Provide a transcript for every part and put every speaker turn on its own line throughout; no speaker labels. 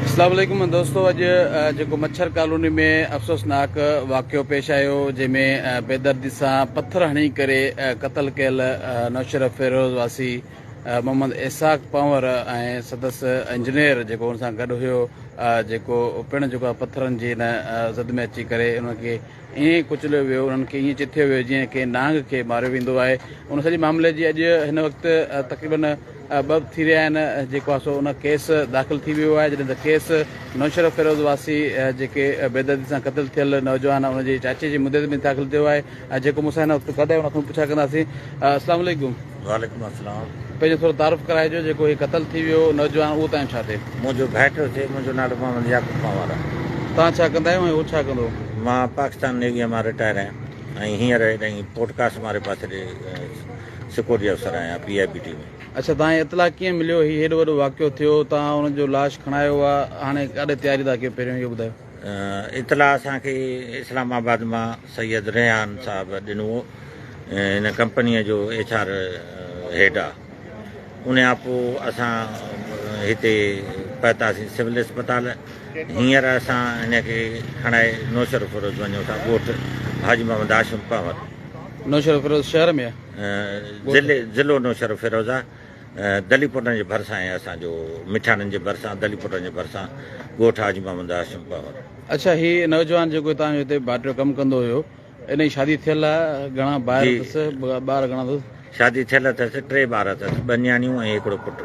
السلام عليڪم دوستو اڄ جيڪو مڇر ڪالوني ۾ افسوسناڪ واقعو پيش آيو جنهن ۾ بيدردي سان پٿر هڻي ڪري قتل ڪيل نوشهر فيروز واسي محمد اسحاق پنور ۽ سندس انجنيئر جيڪو ان سان گڏ هيو جيڪو پڻ جيڪو پٿرن جي ان زد ۾ اچي ڪري ان کي ائين ڪچليو ويو، انهن کي ائين چٿيو ويو جيئن ڪنهن نانگ کي ماريو ويندو آهي. ان سڄي معاملي جي اڄ هن وقت تقريباً ٻه ٿي رهيا آهن جيڪو آهي سو ان ڪيس داخل ٿي ويو آهي جڏهن ته ڪيس نوشهرو فيروز واسي جيڪي بيدردي سان قتل ٿيل نوجوان ان جي چاچي جي مدي تي پڻ داخل ٿيو آهي جيڪو مون سان هن وقت گڏ آهي ان کان پڇا ڪنداسين السلام عليڪم وعليڪم السلام
پنهنجو ٿورو تعارف
ڪرائجو جيڪو هي قتل ٿي ويو نوجوان اهو تنهنجو ڇا ٿئي. منهنجو ڀائٽو ٿئي
منهنجو نالو محمد يعقوب پنهور آهي. توهان ڇا ڪندا آهيو
۽ هو ڇا ڪندو هو. مان پاڪستان
نيويء مان رٽائر آهيان ۽ هينئر هيڏانهن پورٽ ڪاسٽ واري پاسي ڏي سڪيورٽي افسر آهيان پي آء بي ٽي ۾. اڇا توهان کي اطلاع
ڪيئن مليو هي هيڏو وڏو واقعو ٿيو توهان هن جو لاش کڻايو آ هاڻي ڪاڏي تياري ٿا ڪيو پهريون اهو ٻڌايو. اطلاع
اسان کي اسلام آباد مان سيد ريحان صاحب ڏنو هو هن ڪمپنيء جو ايڇ آر هيڊ آ ان کان پوء اسان هتي پهتاسين سول اسپتال هينئر اسان هن کي کڻائي نوشهر فيروز وڃون ٿا ڳوٺ حاجي محمد هاشم پنهور نوشهر فيروز
شهر ۾
ضلعو نوشهر فيروز آ. دلي پوٽن جي ڀرسان ۽ اسان جو مٺياڻن جي ڀرسان دلي پوٽن جي ڀرسان ڳوٺ حاجي محمد هاشم پنهور. اڇا هي
نوجوان جيڪو توهان جو هتي ڀاٽيو ڪم ڪندو هيو ان جي شادي ٿيل آ گهڻا ڀائر جي اٿس ٻار گهڻا اٿس. شادي ٿيل اٿس ٽي ٻار اٿس ٻه نياڻيون ۽ هڪڙو پٽ.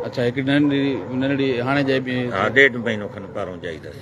اڇا هڪڙي ننڍڙي ننڍڙي هاڻي ڄائي پئي. ها ڏيڍ مهينو کن پهرون ڄائي اٿس.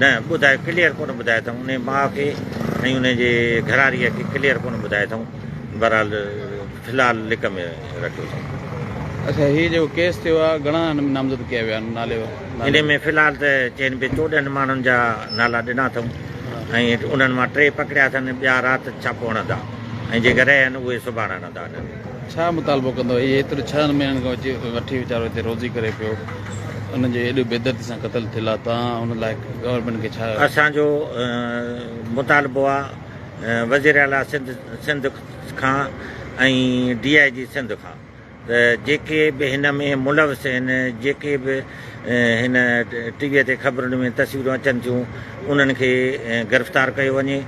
نه ٻڌائي
ڪليئر ڪونه ٻڌائي اٿئون انهي ماء کي ۽ انهي جي گهراري کي ڪليئر ڪونه ٻڌائي اٿئون بهرحال في الحال لڪ ۾ رکيو اٿئون. اڇا هي
جيڪو ڪيس ٿيو آهي گهڻا نامزد ڪيا ويا نالي وارا. انهي ۾ في الحال
ته چين پي چوڏهن ماڻهن جا نالا ڏنا اٿئون ۽ انهن مان ٽي پڪڙيا اٿن ٻيا رات ڇاپو هڻندا ۽ جيڪي رهيا آهن اهي سڀاڻ هڻندا انهن. ڇا مطالبو
ڪندو هي ايتري ڇهن مهينن کان وٺي ويچارو هتي روزي ڪري پيو. انهن جي ايڏي بيدردي سان قتل ٿيل آ تان ان لاء گورنمينٽ کي ڇا. اسان جو
مطالبو آ وزير اعليٰ سنڌ کان ۽ ڊي آء جي سنڌ کان ته جيڪي به هن ۾ ملوث آهن جيڪي به هن ٽي وي تي خبرن ۾ تصويرون اچن ٿيون انهن کي گرفتار ڪيو وڃي.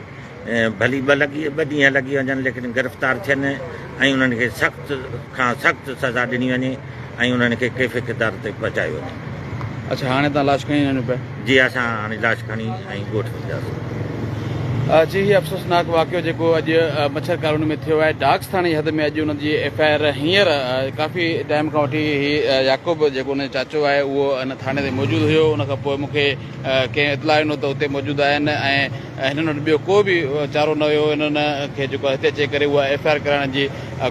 ڀلي ٻه لڳي ٻه ڏينهن لڳي وڃن ليڪن گرفتار ٿين ۽ انهن کي سخت کان سخت سزا ڏني وڃي ۽ انهن کي ڪيفي ڪردار تي پهچايو وڃي. اڇا هاڻي
تان لاش کڻي وڃو پيا. جي اسان هاڻي
لاش کڻي ۽ ڳوٺ وينداسين.
جي هي افسوسناڪ واقعو جيڪو اڄ مڇر ڪالوني ۾ ٿيو آهي ڊاگس ٿاڻي جي حد ۾ اڄ ان جي ايف آء آر هينئر ڪافي ٽائيم کان وٺي هي يعقوب جيڪو ان جو چاچو آهي اهو ان ٿاڻي تي موجود هيو ان کان پوء مونکي کي اطلاع ڏنو ته اتي موجود آهن ۽ هنن وٽ ٻيو ڪو به چارو نه هيو هنن کي جيڪو هتي اچي ڪري اها ايف آء آر ڪرائڻ جي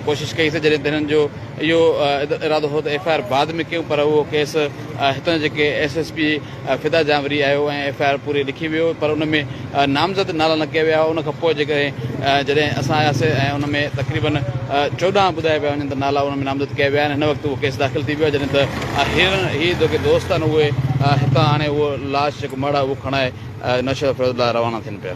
ڪوشش ڪئي سي جڏهن ته هنن جو اهو ارادو هو ته ايف آء آر بعد ۾ ڪيون پر اهو ڪيس هتان جيڪي SSP Fida Janwari آيو ۽ ايف آء آر پوري لکي ويو پر ان ۾ نامزد نالا نه ڪيا ويا هئا ان کان پوء جيڪڏهن جڏهن اسان آياسي ۽ ان ۾ تقريبن چوڏهن ٻڌايا پيا وڃن ته نالا ان ۾ نامزد ڪيا ويا آهن هن وقت اهو ڪيس داخل ٿي ويو آهي جڏهن ته هيرن هي جيڪي دوست آهن اهي هتان آڻي اهو لاش جيڪو مڙهه آهي اهو کڻائي نوشهرو فيروز لاء روانا ٿين پيا.